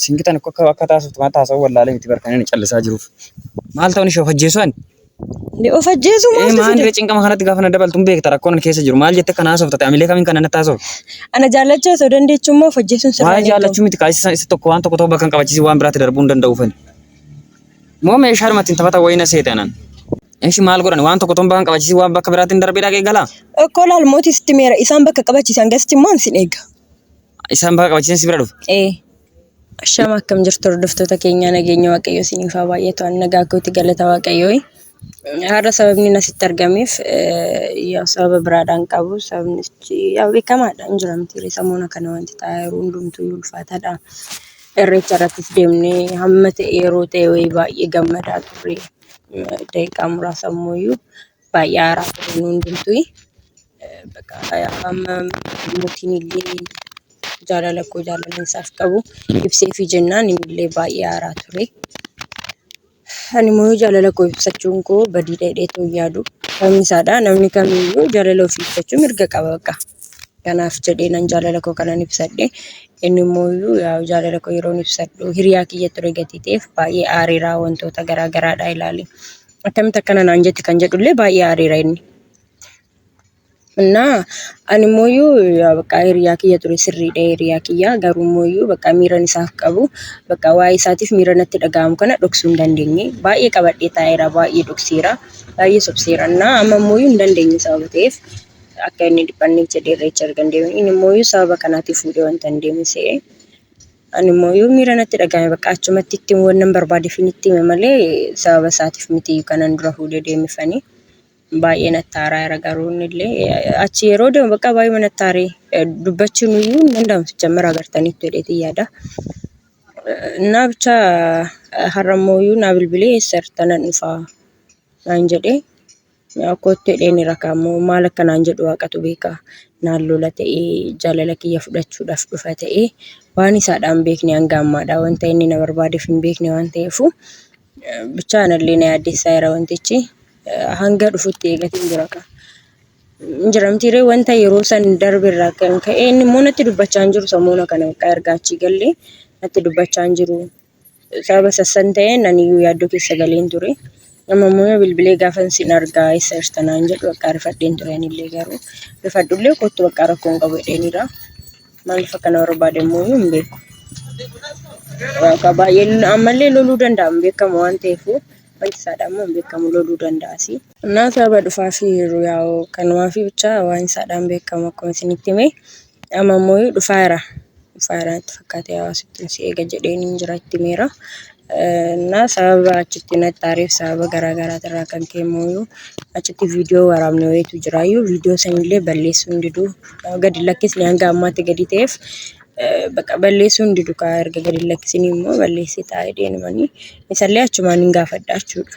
Siin gitan akka akka taasiftu maal taasifuu wallaalee miti bar kan inni callisaa jiruuf. Maal ta'uun ishee of ajjeesuu ani? Ni of ajjeesuu Ee maaltu maal fide? cinqama kanatti gaafa na dabaltu hin beekta rakkoon ani keessa jiru. Maal jette kan haasofta ta'e amilee kamiin kan natti haasofta? Ana jaallachuu osoo dandeechuu immoo of ajjeesuun sirraa Waa'ee hin eegamu. jaallachuu miti kaasisa isa tokko waan tokko ta'u bakka hin qabachiisi waan biraatti darbuu hin danda'u fani. Moo meeshaa dhumatti hin taphata wayii na seete anan. Ishi maal godhan waan tokko ta'u bakka hin qabachiisi waan bakka biraatti hin darbee dhaqee galaa? Okkoo laal mootii sitti meera isaan bakka qabachiisan gasti immoo ansin eega. Isaan baga qabachiisan si bira dhufu. Ee. Shama akkam jirtu hordoftoota keenyaa nageenya waaqayyoo isiniif haa baay'atu ani nagaa kooti galata waaqayyoo. Har'a sababni asitti argameef yaa sababa biraadhaan qabu sababni yaa beekamaadha hin jiramti samuuna kana wanti ta'aa yeroo hundumtuu ulfaataadha. Irreecha irrattis deemnee hamma ta'e yeroo ta'e wayii baay'ee gammadaa turre daqiiqaa muraasa ammoo iyyuu baay'ee aaraa ture nu hundumtuu. Bakka amma mootiin illee jaalala koo jaalala isaaf qabu ibseefii jennaan inni illee baay'ee aaraa ture. Ani immoo jaalala koo ibsachuun koo badii dheedhee too hin yaadu. Sababni isaadha namni kamiyyuu jaalala ofii ibsachuu mirga qaba bakka. Kanaaf jedhee nan jaalala koo kanan ibsadhe. Inni immoo yaa jaalala koo yeroon ibsadhu hiriyaa kiyya ture gatii ta'eef baay'ee aareera wantoota garaa garaadhaa ilaali. Akkamitti akkana naan jette kan jedhullee baay'ee aareera inni. Innaa ani immoo iyyuu bakka hiriyaa kiyya ture sirriidha hiriyaa kiyya garuu immoo iyyuu bakka miiran isaaf qabu bakka waa'ee isaatiif miira natti dhaga'amu kana dhoksuu hin dandeenye. Baay'ee qabadhee taa'eera baay'ee dhokseera baay'ee sobseera innaa amma immoo iyyuu hin dandeenye sababa ta'eef akka inni dhiphanneef jedhee irreecha erga hin deemin inni immoo iyyuu sababa kanaatiif fuudhee wanta hin deemne se'e. Animmoo yoo miira natti dhagahame bakka achumatti itti wannan barbaadeefin itti hime malee sababa isaatiif miti kanan dura fuudhee deemifani. Baay'ee natti aaraa'era garuu innillee achi yeroo deemu bakka baay'ee natti aaree dubbachuun iyyuu hin danda'amu sijjammer agartaniittu jedheetiin yaada. Innaa bicha har'a immoo naa bilbilee eessa jirta nan dhufaa naan jedhee. Kottu jedheen rakaa immoo maal akka naan jedhu waaqatu beeka. Naan lola ta'ee jaalala kiyya fudhachuudhaaf dhufa ta'ee waan isaadhaa hin beekne hanga ammaadhaa wanta inni na barbaadeef hin beekne waan ta'eefu bichaa anallee na yaaddessaa jira wantichi. Hanga dhufutti eegatiin jira kaa. Hin jira miti ree wanta yeroo san darbe irraa kan ka'e inni immoo natti dubbachaa hin jiru samoona kana erga achii gallee natti dubbachaa hin jiru. Sababa sassan ta'een aniyyuu yaaddoo keessa galeen ture. Amma immoo yoo bilbilee gaafan sin argaa eessa jirta naan jedhu bakka rifadheen ture anillee garuu rifadhullee kottu bakka rakkoo hin qabu jedheeniira. Maaliif akkana barbaade immoo hin beeku. Bakka baay'ee ammallee loluu danda'a hin beekamu waan ta'eef wanti isaadha immoo hin beekamu loluu danda'a. Kanaaf sababa dhufaa fi yeroo yaa'u kanumaa fi bichaa waan isaadhaan beekamu akkuma isinitti hime. Amma immoo dhufaayeera. Dhufaayeera natti fakkaatee hawaasittiin si eega jedheeniin jira itti himeera. Na sababa achitti natti aareef sababa garaa garaati irraa kan ka'e immoo achitti viidiyoo waraabne wayiitu jira. Iyyuu viidiyoo sanillee balleessuu hin didu. Gadi hin lakkisne hanga ammaatti gadi ta'eef baqa balleessuu hin didu kaa erga gadi hin lakkisini immoo balleessita jedheenumanii isallee achumaan hin gaafadha jechuudha.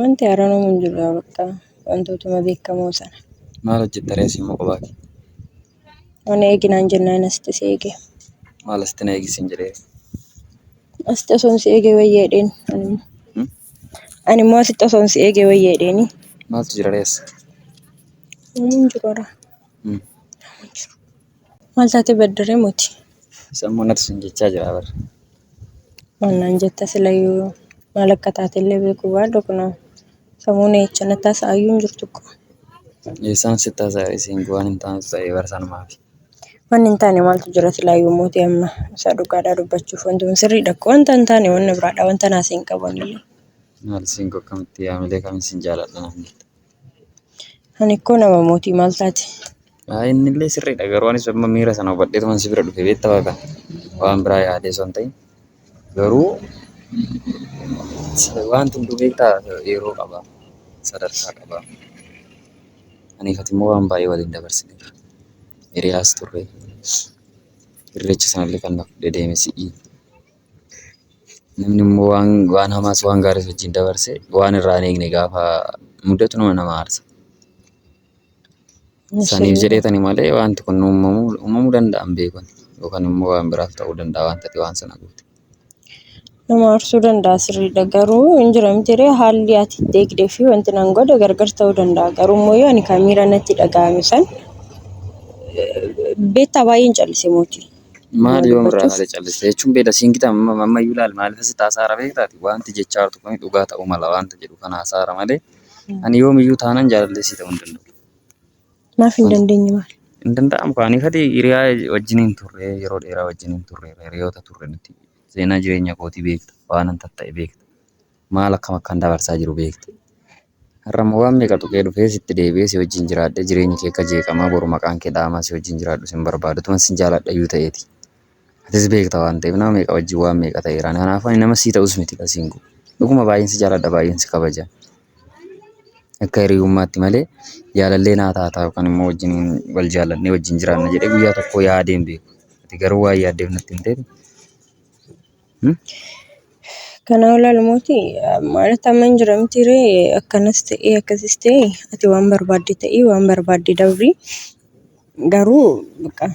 Wanti haaraan uumuu hin jiru bakka wantootuma beekamoo sana. Maal hojjetta ree immoo kophaa kee? Ani eeginaan jennaan asitti si eege. Maal asitti na eegisiin jedhee? Asitti osoo si eege wayya jedheen. Ani immoo asitti osoo si eege wayya jedheeni. Maaltu jira ree as? Uumuu hin jiru haraa. Maal taatee baddaree moti? Sammuu natu sin jechaa jira bar. Maal naan jetta silayyuu maal akka taatellee beekuu baadhu kunoo sammuu na jecha na taasa'ayyuu hin jirtu ko. Eessaan si taasaa isiin waan hin taanetu ta'e bar sanumaaf. Wanni hin taane maaltu jira silayyuu moti amma isa dhugaadhaa dubbachuuf wanti kun sirriidha ko wanta hin taane wanna biraadha wanta naasii hin qabanillee. Maal isiin ko akkamitti yaamilee kamiin sin jaaladha naan jetta. Ani koo nama mootii maal taate? Haa innillee sirriidha garuu anis amma miira sana hubadheetuman si bira dhufe beekta baqa waan biraa yaadee osoo hin ta'in garuu wanti hunduu beekta yeroo qaba sadarkaa qaba aniif ati immoo waan baay'ee waliin dabarsine jira hiriyaas turre irreecha sanallee kan na fudhee deeme si'i Namni immoo waan, waan hamaas waan gaariis wajjin dabarse waan irraa hin eegne gaafa mudatu nama nama aarsa. Saniif jedheetani malee wanti kun uumamuu, uumamuu danda'an beekun yookaan immoo waan biraaf ta'uu danda'a waan ta'e waan sana goote. Nama aarsuu danda'a sirriidha garuu hin jira miti ree haalli ati itti eegdee fi wanti nan godhe gargar ta'uu danda'a garuu immoo yoo ani kan miira natti dhaga'ame san beektaa baay'een callise mootii. Maal yoom irraa malee calliste jechuun beela siin gitaa amma iyyuu laal maaliif asitti haasaara beektaati wanti jechaa jirtu kun dhugaa ta'uu mala wanta jedhu kan haasaara malee ani yoom iyyuu taanan jaalallee sii ta'uu hin danda'u. Maaf hin dandeenye maal? Hin danda'amu kaanii fati hiriyaa wajjin hin turre yeroo dheeraa wajjin hin turre hiriyoota turre nuti seenaa jireenya kootii beekta waan an tatta'e beekta maal akkam akkan dabarsaa jiru beekta Har'ammoo waan meeqa tuqee dhufee sitti deebi'ee si wajjin jiraadhee jireenyi kee akka jeeqamaa boru maqaan kee dha'amaa si wajjin jiraadhu sin barbaadu utuman sin jaaladhayyuu ta'eeti. Atis beekta waan ta'eef nama meeqa wajjin waan meeqa ta'eera ani kanaafuu ani nama sii ta'us miti lasiin koo dhuguma baay'een si jaaladha baay'een si kabaja. Akka hiriyummaatti malee jaalallee naa taataa yookaan immoo wajjin wal jaalannee wajjin jiraanna jedhee guyyaa tokko yaadeen beeku. Ati garuu waan yaaddeef natti hin ta'in Kanaa ol ilmooti maalatti amma hin jiramti ree akkanas ta'ee akkasis ta'e ati waan barbaadde ta'ii waan barbaadde dabri garuu baqa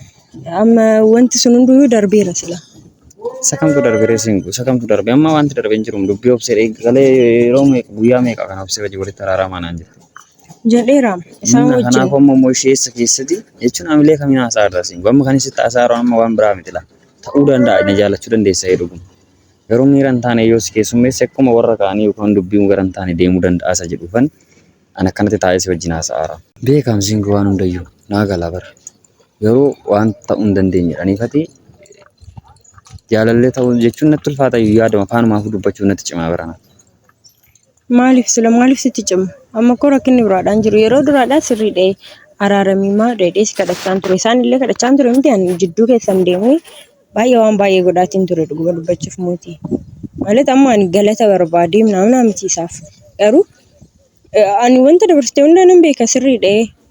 amma wanti sun hunduu darbeera sila. Isa kamtu darbe ree siin isa kamtu darbe amma wanti darbe hin jiru dubbii obsee eegalee yeroo meeqa guyyaa meeqa kan obsee wajjin walitti araaramaa naan jira. Jedheeraam isaan Humna kanaaf wajjin. ammoo immoo isheessa keessatti jechuun hamilee kamiin haasaa irraa siin amma kan isitti haasaa irraa amma waan biraa miti laa. Ta'uu danda'a na jaalachuu dandeessa yoo dhuguma. Garuu miira hin taane yoo si keessummeesse akkuma warra kaanii yookaan dubbiin gara hin taane deemuu danda'a isa jedhuufan an akkanatti taa'ee si wajjin haasa'aara. Beekaam singi waan hundayyuu naa gala bar. Garuu waan ta'uu hin dandeenye dhaniifati jaalallee ta'uu jechuun natti ulfaata iyyuu yaadama afaanumaafuu dubbachuuf natti cimaa barana. Maaliif sila maaliif sitti cimu? Amma koo rakkinni biraadhaan jiru yeroo duraadhaan sirrii dha'e araaramii maa dheedhee si kadhachaan ture isaan illee kadhachaan ture miti ani jidduu keessan deemee baay'ee waan baay'ee godhaatiin ture dhuguma dubbachuuf mootii. Maalet amma ani galata barbaadee naamnaa miti isaaf garuu ani wanta dabarsite hundaa nan beeka sirrii dha'e.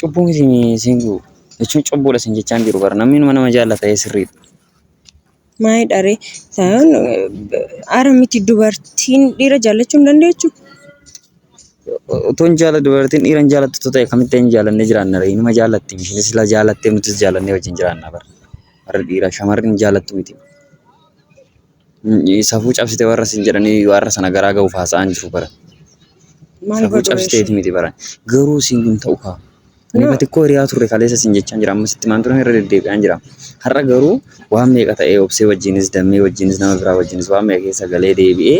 Cubbuu miti siin jiru. Jechuun cubbuudha siin jechaa hin jiru bara. Namni numa nama jaallata ee sirriidha. Maayii dharee saayaan ara miti dubartiin dhiira jaallachuu hin dandeechu. Otoo hin jaalla dubartiin dhiira hin jaallattu otoo ta'e akkamitti hin jaallannee jiraanna ree? Inuma jaallatti isheenis ilaa jaallattee nutis jaallannee wajjin jiraanna bara. Warri dhiiraa shamarri hin jaallattu miti. Safuu cabsite warra sin jedhanii warra sana garaa ga'uuf haasa'aan jiru bara. Maal Safuu godhu cabsiteeti ishee? miti bara. Garuu siin hin ta'u kaa. Ani No. batikkoo hiriyaa turre kaleessa siin jechaan jira. Ammas itti maan turan irra deddeebi'aan jira. Har'a garuu waan meeqa ta'ee obsee wajjinis dammee wajjinis nama biraa wajjinis waan meeqa keessa galee deebi'ee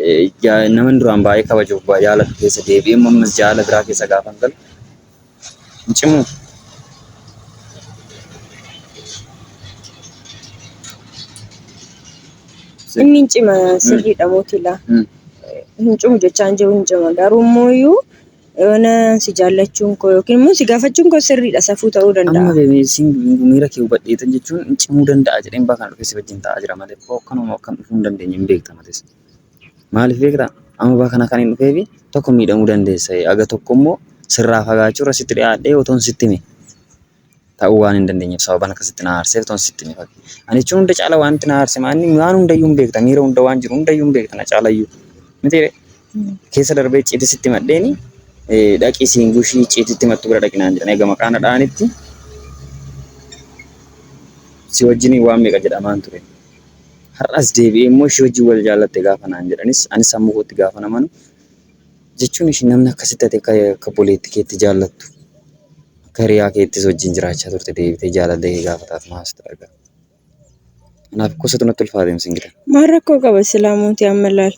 eh, jaa- naman duraan baay'ee kabajuuf ba- jaalatu keessa deebi'ee immoo ammas jaala biraa keessa gaafan galu hin cimuu. Inni hin cima sirriidha mootilaa. Mm. Hin cimu jechaa hin jiru hin cima. Garuu immoo iyyuu yoona si jaallachuun koo yookiin immoo si gaafachuun koo sirriidha safuu ta'uu Amma danda'a. bebeesiin miira kee hubadheetan jechuun hin cimuu danda'a jedheen bakan dhufee si wajjin taa'aa jira malee koo akkanuma akkan dhufuu hin dandeenye hin beekta mates. Maaliif beektaa? Amma bara kana kan hin dhufeefi tokko miidhamuu dandeessa. Aga tokko immoo sirraa fagaachuurra sitti dhiyaadhee otoon sitti hime ta'uu waan hin dandeenyeef sababan akka sitti na aarseef otoon sitti hime fakkii. Ani jechuun hunda caala wanti na aarse maanni waan hundayyuu hin beekta miira hunda waan jiru hundayyuu hin beekta na caalayyuu. Mitiire keessa darbee icciitii sitti madheeni dhaqii siin gushii icciitiitti mattu bira dhaqinaan jedhan egaa maqaa na dha'anitti si wajjiniin waan meeqa jedhamaan ture. Har'as deebi'ee immoo ishee wajjin wal jaallatte gaafa naan jedhanis anis sammuu kootti gaafa na manu jechuun ishee namni akkasitti ati akka akka boleetti keetti jaallattu akka hiriyaa keettis wajjin jiraachaa turte deebitee jaalallee kee gaafa taatu maal sitti dhaga'ama. Kanaaf gosoota natti ulfaateem singilan. Maal rakkoo qaba silaa mootii amma ilaal.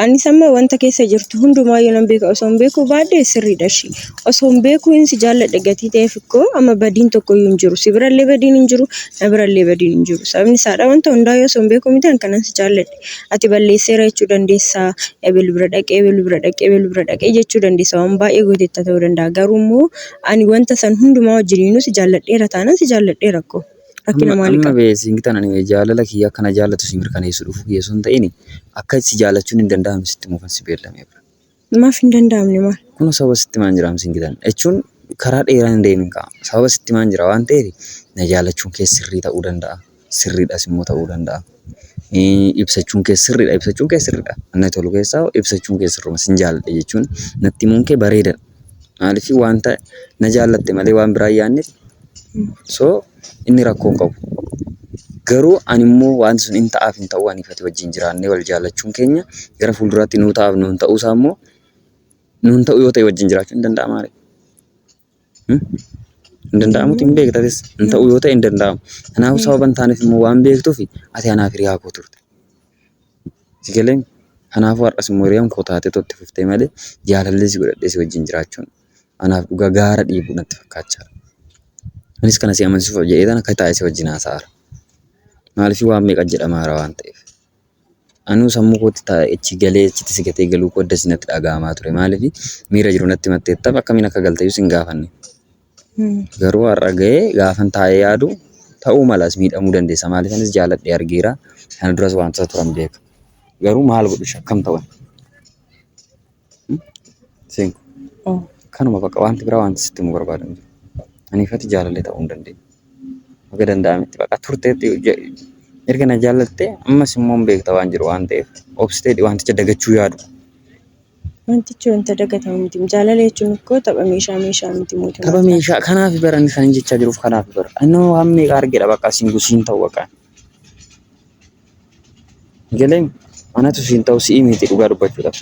Anis amma wanta keessa jirtu hundumaa yoo nan beeka osoo hin beekuu baadhee sirriidha ishii. Osoo hin beekuu hin si jaalladhe gatii ta'eef koo amma badiin tokkoyyuu hin jiru. Si birallee badiin hin jiru, na birallee badiin hin jiru. Sababni isaadha wanta hundaa yoo osoo hin beekuu miti an kanan si jaalladhe. Ati balleesseera jechuu dandeessa, ebel bira dhaqee, ebel bira dhaqee, ebel bira dhaqee jechuu dandeessa. Waan baay'ee gooteetta ta'uu danda'a. Garuu immoo ani wanta san hundumaa wajjiniinuu si jaalladheera taanaan si jaalladheera koo. Rakkina Amma, maalii amma qaba? bee siingi tanan bee jaalala kiyya akka na jaallatu si mirkaneessu dhufuu kiyya osoo hin ta'in akka si jaallachuun hin danda'amne sitti muufan si beellamee bira. Maaf hin danda'amne maal? Kunoo sababa sitti maan jiraam siingi tanan jechuun karaa dheeraa hin deemin ka'a. Sababa sitti maan jira waan ta'eef na jaallachuun kee sirrii ta'uu danda'a. Sirriidhas immoo ta'uu danda'a. Ee, Ibsachuun kee sirriidha. Ibsachuun kee sirriidha. Anna tolu keessaa ibsachuun kee sirruma sin jaalladha jechuun natti himuun kee bareedadha. Maaliif wanta na jaallatte malee waan biraa hin yaadneef. So inni rakkoo hin qabu. Garuu ani immoo wanti sun hin ta'aaf hin ta'uu aniif ati wajjin jiraannee wal jaallachuun keenya gara fuulduraatti nuu ta'aaf nuun ta'uu isaa immoo nuun ta'uu yoo ta'e wajjin jiraachuun hin danda'amaa ree? Hmm? Hin danda'amuti hin beekta atis. Hin ta'uu yoo ta'e hin danda'amu. Kanaafuu sababa hin taaneef immoo waan beektuuf ati anaaf hiriyaa koo turte. Si galee? Kanaafuu har'as immoo hiriyaan koo taatee itti fuftee malee jaalallee si godhadhee si wajjin jiraachuun anaaf dhugaa gaara dhiibu natti fakkaachaa jira. Anis kana si amansiisuuf jedheetan akka taa'ee si wajjin haasa'aara. Maaliifii waan meeqa jedhamaara waan ta'eef. Anuu sammuu kootti taa'ee achi galee achitti si gatee galuu koo adda si natti dhaga'amaa ture. Maaliifii miira jiru natti matteettaaf akkamiin akka galteyyuu sin gaafanne. Garuu har'a ga'ee gaafan taa'ee yaadu ta'uu malas miidhamuu dandeessa. Maaliif anis jaaladhee argeera. Kana duras wantoota turan beeka. Garuu maal godhu shakkam ta'an? Seenku. Kanuma bakka wanti biraa wanti sitti himuu barbaadu hin jiru. Aniif ati jaalallee ta'uu hin dandeenye. Baga danda'ametti baqa turteetti ja- erga na jaalattee ammas immoo hin beekta waan jiru waan ta'eef obsiteedhi wanticha dagachuu yaadu. Wantichi wanta dagatamu miti. Jaalala jechuun koo tapha meeshaa meeshaa miti mootummaa. Tapha meeshaa kanaaf bara inni kan jechaa jiruuf kanaaf bara. Inni hoo waan meeqa argedha bakka siin gusiin ta'u bakka. Galeen manatu siin ta'u si'i miti dhugaa dubbachuudhaaf.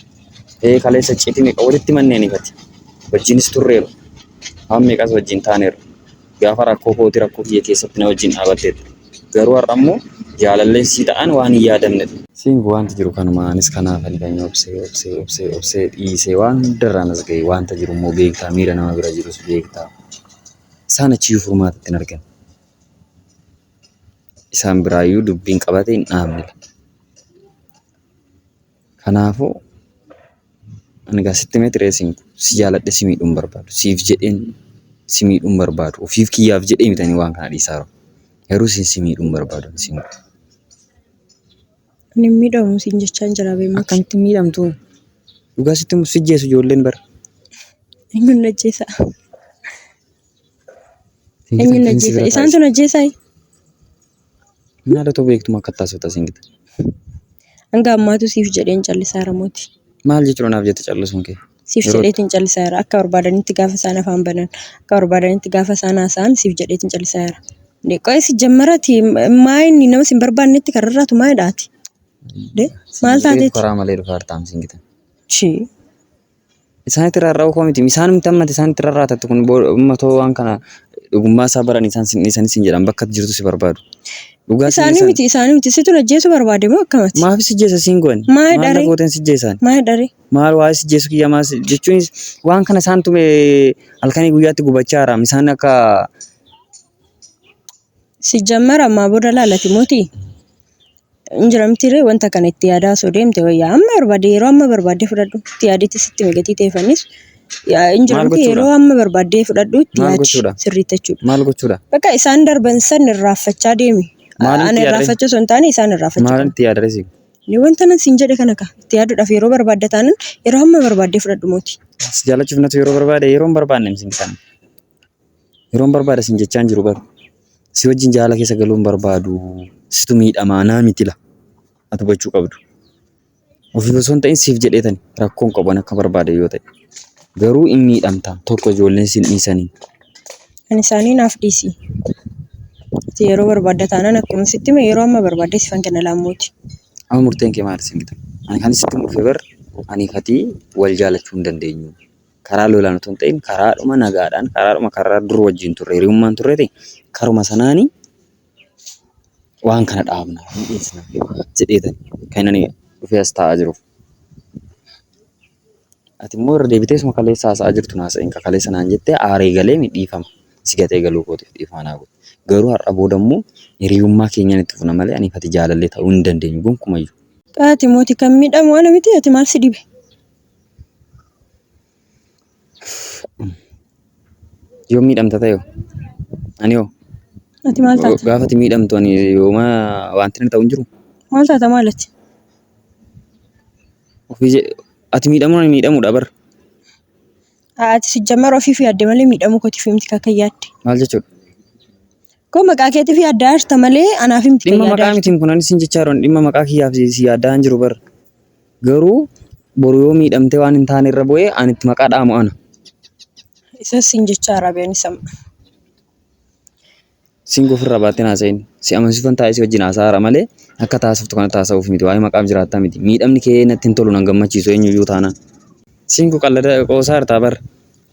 Ee kaleessa citi meeqa walitti manneen ifati. Wajjinis turreeru. Waan meeqas wajjin taaneeru. Gaafa rakkoo kooti rakkoo kiyya keessatti na wajjin dhaabatteetta. Garuu har'a immoo jaalalleen sii ta'an waan hin yaadamnedha. Think Wanti jiru kanuma anis kanaafani kan obsee obsee obsee obsee dhiisee waan hundarraan as ga'e. Wanta jiru immoo beektaa miira nama bira jirus beektaa. Isaan achiyyuu furmaata itti hin argan. Isaan biraayyuu dubbiin qabate hin dhaabnedha. Kanaafuu ani egaa sitti himee ture isin si jaaladhe si miidhuu hin barbaadu. Siif jedheen si miidhuu hin barbaadu. Ofiif kiyyaaf jedhee miti ani waan kana dhiisaa jiru. Garuu isin si miidhuu hin barbaadu ani si miidhu. Ani hin miidhamu siin jechaan jira beemuti. Akkamitti hin miidhamtu? Dhugaa sitti himu si jeesu ijoolleen bara. Eenyuun ajjeesa? Eenyuun ajjeesa? Isaantu ajjeesaa? Maalatu beektu akka taasifta siin gita. Hanga ammaatu siif jedheen callisaara mooti. Maal jechuudha naaf jette callisuun kee? Siif Yeroo- jedheetiin callisaara. Akka barbaadanitti gaafa isaan afaan banan. Akka barbaadanitti gaafa isaan haasa'an siif jedheetiin callisaara. Qo'ee si jammarati maa inni nama sin barbaannetti kararraatu maa hidhaati? De maal Siin taateeti? Karaa malee dhufaartaam siin gita. Chii. Isaanitti irraa rarra'uu koo miti. Isaan miti ammati isaanitti irraa raatattu kun ummatoo waan kana dhugummaa isaa baran isaan sin dhiisanis hin jedhan bakka jirtu si barbaadu. Dhugaa Isaanii miti isaanii miti situ ajjeesu barbaade moo akkamati? Maafi si jeesa siin goone? Maal Maal na dharee? gooteen si jeesaan? Maal dharee? Maal waa'ee si jeesu kiyya maal si- jechuunis waan kana isaan tume halkanii guyyaatti gubachaa jiraam. Isaan akka Si jammara ammaa booda laalati mootii? Hin jira mitiiree wanta kana itti yaadaa osoo deemte wayya. Amma barbaadde yeroo amma barbaadde fudhadhu itti yaadetti sitti migatii ta'e fannis. Hin jira Maal miti gochuudha? yeroo amma barbaadde fudhadhu itti Maal yaadi gochuudha? sirriitti jechuudha. Maal gochuudha? Bakka isaan darban san irraanfachaa deemi. Maalitti Ani yaadree? irraanfachuu osoo hin taane isaan irraanfachuu Maal qaba. itti yaadree si? Ni wanta nan siin jedhe kana ka itti yaaduudhaaf yeroo barbaadda taanan yeroo amma barbaadde fudhadhu mooti. Si jaalachuuf natu yeroo barbaade yeroo hin barbaanne miti kan. Yeroon barbaada sin jechaan jiru garuu. Si wajjin jaala keessa galuu hin barbaadu. Situ miidhamaa naa miti la. Ati hubachuu qabdu. Ofiif osoo hin ta'in siif jedheetani rakkoon qaban akka barbaade yoo ta'e. Garuu hin miidhamta tokko ijoolleen sin dhiisanii. Kan isaanii naaf dhiisi. Ati yeroo barbaadda taanaan akkuma sitti hime yeroo amma barbaadde sifan kenna laammooti. Amma murteen kee maal sin gita? Ani kan sitti murfe bar ani katii wal jaalachuu hin dandeenyu. karaa lolaan utuu hin ta'in karaadhuma nagaadhaan, karaadhuma karra dur wajjin turre, hiriyummaan turreeti karuma sanaani waan kana dhaabna, ni dhiisna jedheetan kan ani dhufee as taa'aa jiruuf. Ati immoo irra deebitee isuma kaleessa haasa'aa jirtu na haasa'in ka kaleessa naan jettee aaree galee mi dhiifama si gatee galuu kootiif dhiifama naa godhi. Garuu har'a booda immoo hiriyummaa keenyaan itti fufna malee aniif ati jaalallee ta'uu hin dandeenyu gonkumayyuu. Ati mooti kan miidhamu ana miti ati maal si dhibe? Yoo miidhamta ta'e hoo? Ani hoo? Ati maal taata? Gaafa ati miidhamtu ani yooma wanti na ta'u hin jiru. Maal taata maal ati? Ofii je- ati miidhamuun ani miidhamuudha bar. Ati sijjammar ofiif yaadde malee miidhamuu kootiif himti akka yaadde. Maal jechuudha? Koo maqaa keetiif yaaddaa jirta malee anaaf miti kan Dhimma yaaddaa maqaa jirtu. mitiin kun ani siin jechaa jiran dhimma maqaa kiyyaaf si si yaaddaa hin jiru bar. Garuu boru yoo miidhamtee waan hin taane irra bu'ee ani itti maqaa dhaamu ana. Isas siin jechaa jira biyyoon isa. Siin gofirraa baatteen haasa'in. Si amansiifan taa'ee si wajjin haasa'aara malee akka taasiftu kanatti haasa'uuf miti. Waa'ee maqaaf jiraattaa miti. Miidhamni kee natti hin tolu nan gammachiisu eenyuyyuu taanaan. Siin kun qallada qoosaa jirtaa bar.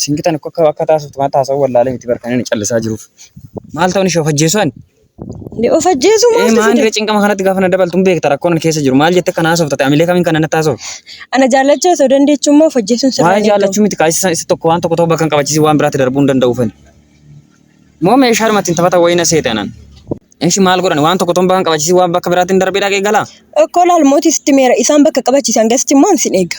Sin gitan akka akka taasiftu waan taasifuu wallaalee miti bar kan inni callisaa jiruuf. Maal ta'uun ishee of ajjeesuu ani? Ni of ajjeesuu Ee maaltu maandira fide? cinqama kanatti gaafa na dabaltu hin beekta rakkoon ani keessa jiru. Maal jette kana haasofta ta'e amilee kamiin kana natti haasofta? Ana jaallachuu osoo dandeechuu immoo of ajjeesuun sirraa Waan hin eegamu. jaallachuu miti kaasisa isa tokko waan tokko ta'uu bakka hin qabachiisi waan biraatti darbuu hin danda'u fani. Moo meeshaa dhumatti hin taphata wayii na seete anan. Ishi maal godhan waan tokko ta'uu bakka hin qabachiisi waan bakka biraatti hin darbee dhaqee galaa? Okkoo laal mootii sitti meera isaan bakka qabachiisan gasitti immoo an sin eega.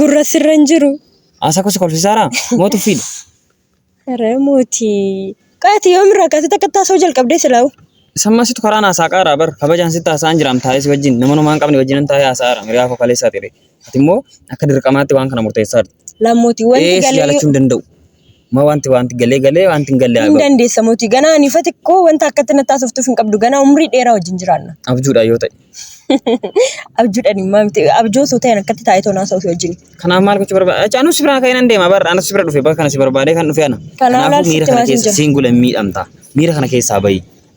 Gurra sirra hin jiru. Asa ko si kolfisara mo tuffiidha. Haree mootii. Qaati yoomirraa kaasee takka taasoo jalqabdee silaawu. Samma situ karaa naasaa qaaraa bar kabajaan sitti haasaan jiraam taa'ee si wajjin nama numaan qabne wajjinan taa'ee haasa'aara miriyaa koo kaleessaa ture. Ati immoo akka dirqamaatti waan kana murteessaa jirti. Lammooti wanti Ee si galee jaalachuu hin danda'u. Ma wanti wanti galee galee wanti hin galle Hin haga dandeessa mootii. Ganaa ani ifa xiqqoo wanta akkatti natti haasoftuuf hin qabdu. Ganaa umrii dheeraa wajjin jiraanna. abjuudhaan yoo ta'e. Abjuudhaan hin maamte. Abjuu osoo ta'een akkatti taa'ee toon haasa'u fi wajjin. Kanaaf maal gochuu barbaada? Achi anus si biraa ka'ee nan deema barra. Anus si bira dhufe bakka kana si barbaadee kan dhufe ana. Kanaaf Kanaafuu miira ilaalchitti kana maal hin keessa jiru? siin gula hin miidhamta. Miira kana keessaa bahi.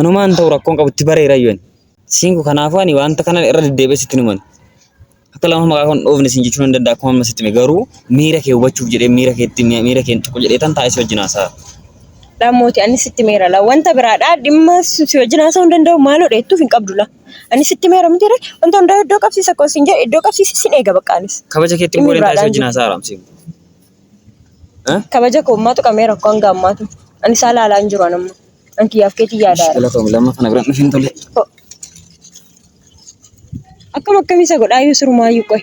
Anumaan ta'u rakkoon qabu itti bareera iyyuu ani. Siingu kanaafuu ani wanta kana irra deddeebi'ee sitti hin himan. Akka lama maqaa kan dhoofne siin jechuu nan danda'a akkuma amma sitti hime garuu miira kee hubachuuf jedhee miira keetti miira keen tuqu jedhee tan taa'ee si wajjin haasa'a. Dhammooti ani sitti meera la wanta biraadha dhimma si si wajjin haasa'uu hin danda'u maaloo dheettuuf hin qabdu la ani sitti meera miti re wanta hundaa iddoo qabsiisa akkuma siin jedhe iddoo qabsiisa sin eega baqqaanis Kabaja keetti dhimmi immoo deemtaa si biraadhaan wajjin jiru. haasa'a Raamsiin. Kabaja koo maatu qabamee rakkoo hanga ammaatu. Ani isaa ilaalaa hin jiru anamma. An kiyyaaf keetii yaadaa jira. Galatoom lamma kana biraan dhufin tole. Akkam akkamii isa godhaa iyyuu sirumaayyuu qoy.